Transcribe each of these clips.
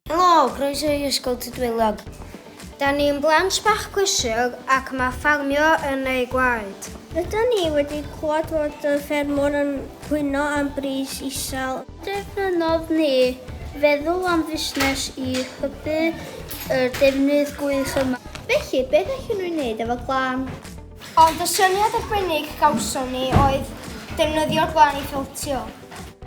Helo, croeso i Ysgol Tydwylog. Da ni'n blant bach cwysig ac mae ffarmio yn ei gwaed. Rydyn ni wedi clywed fod y ffermwr yn pwyno am bris isel. Defnyddodd ni feddwl am fusnes i hybu yr defnydd gwych yma. Felly, beth allwn nhw'n wneud efo glan? Ond y syniad arbennig gawson ni oedd defnyddio'r glan i feltio.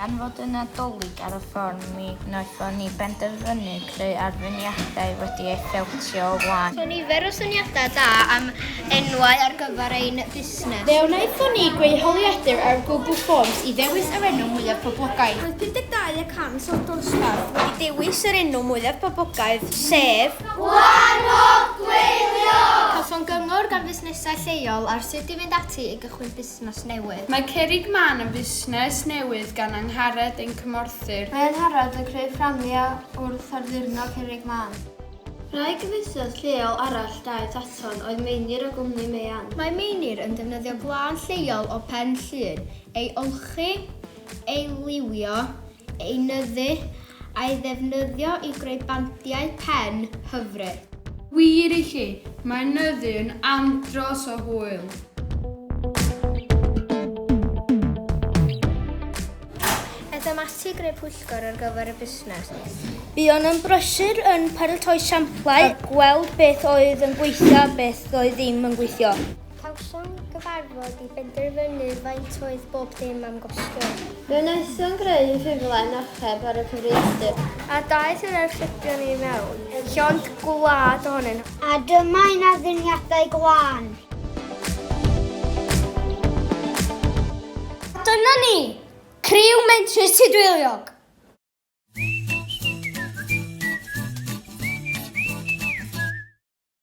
Gan fod y Nadolig ar y ffordd, mi wnaethon ni benderfynu creu arweiniadau wedi ei feltio o flaen. Caethon ni nifer o syniadau da am enwau ar gyfer ein busnes. Fe wnaethon ni greu holiadur ar Google Forms i ddewis yr enw mwyaf poblogaidd. Roedd 52 y cant o'r dosbarth wedi dewis yr enw mwyaf poblogaidd, sef. Gwahodd Gwylio! Cafon gyngor gan fusnesau lleol ar sut i fynd ati i gychwyn busnes newydd. Mae Cerrig Man yn fusnes newydd gan Angharad ein cymorthir. Mae Angharad yn creu fframiau wrth addurno Cerrig Man. Wraig y fusnes lleol arall daeth aton oedd Meinir o gwmni Meian. Mae Meinir yn defnyddio gwlân lleol o Pen Llŷn ei olchi, ei liwio, ei nyddu a'i ddefnyddio i greu bandiau pen hyfryd. Wir i chi, mae nyddu yn andros o hwyl! Edom ati i greu pwyllgor ar gyfer y busnes. Buon yn brysur yn paratoi samplau a gweld beth oedd yn gweithio a beth oedd ddim yn gweithio. Cawsom gyfarfod i benderfynu faint oedd bob dim am gostio. Fe wnaethom greu ffurflen archeb ar y cyfrifiadur. A daeth yr archebion i mewn, llond gwlad ohonyn nhw. A dyma un addurniadau glân. A dyna ni! Criw Mentrus Tudweiliog!